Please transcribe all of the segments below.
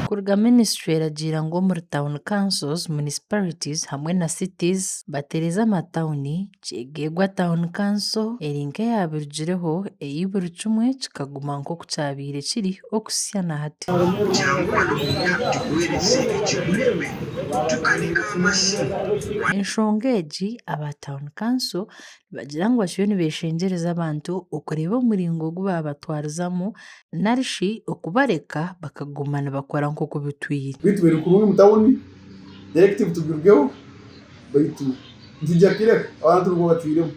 Kuruga ministry eragiira ngu omuri town councils, municipalities hamwe na cities batereeze amatawuni kyegegwa town council eri nk'eyabirugireho eyi buri kimwe kikaguma nk'oku kyabaire kiri okuhitsya na hati. Enshonga egi aba town council bagira ngu bakiriyo nibeeshengyereza abantu okureeba omuringo ogu baabatwarizamu nari shi okubareka bakaguma nibakora nk'oku bitwire. Beitu biri kurungi omu tawuni direct bitugirugeho beitu nitwija kukireka abantu nibwo batwiremu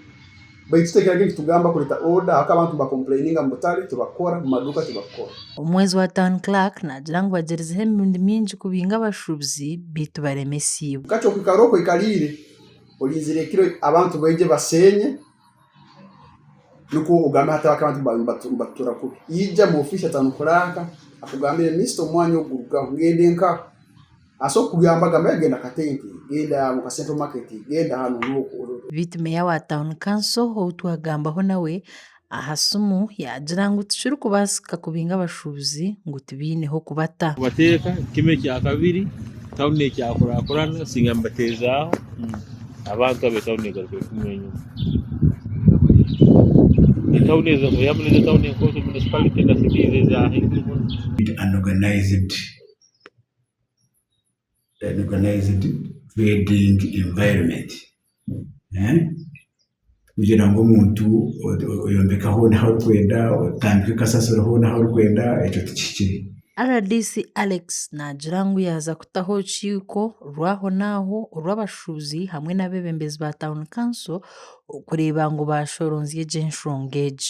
beitu tutekire ngu nitugamba kureta order ahabw'okuba abantu niba complaininga omu butare tibakukora, omu maduuka tibakukora. Omwezi wa Town Clerk naagira ngu bagyerizeho emirundi mingi kubinga abashuubuzi beitu baremesiibwe. Kakye okwikara oku oikariire. Orinzire ekiro abantu baije baseenye nikwo ogambe hati abantu nibatutura kubi. Ija mu ofiisi atari nikuraaka akugambire minisita omwanya ogu gurugaho ngende nkaha. Asobora kukugamba gamba yagenda Katente, genda omu ka Central Market, genda hanu n'oku. Beitu meeya wa Town Council ou twagambaho nawe Aha simu yaagira ngu tikirikubaasika kubinga abashuubuzi ngu tibaine h'okubata. Kubateeka kimwe kya kabiri tauni ekyakurakurana singa mbateezaaho abantu abo etauni egaruka efuma enyima. Etauni ezo oyamu nizo etauni enkooto, municipality, na cities eza haiguru muno. Organized trading environment kugira ngu omuntu oyombeke hoona ahu arikwenda, otandike kasasiro hoona ahu arikwenda ekyo tikihikire. Rdc Alex naagira ngu yaaza kutaho orukiiko rw'aho n'aho orw'abashuubuzi hamwe n'abeebembezi ba Town Council kureeba ngu baashoronzya egyo enshonga egi.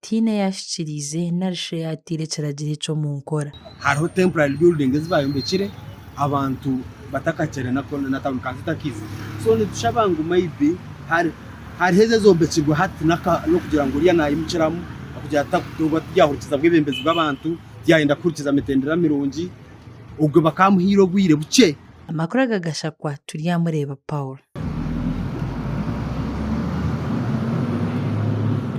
tihaine yaahikiriize nari shi yaataire ekiragiro ekyo omu nkora. Hariho temporary building ezi baayombekire abantu batakakyere na town council etakaija. So nitushaba ngu may be hariho ezi ezombekirwe hati n'okugira ngu oriya naimukiramu okugira ngu tiryahurikiza bwebembezi bw'abantu, tiryayenda kuhurikiza mitendera mirungi. Ogwe bakaba bamuhaire obwire bukye. Amakuru aga Gashakwa Turyamureeba Paul.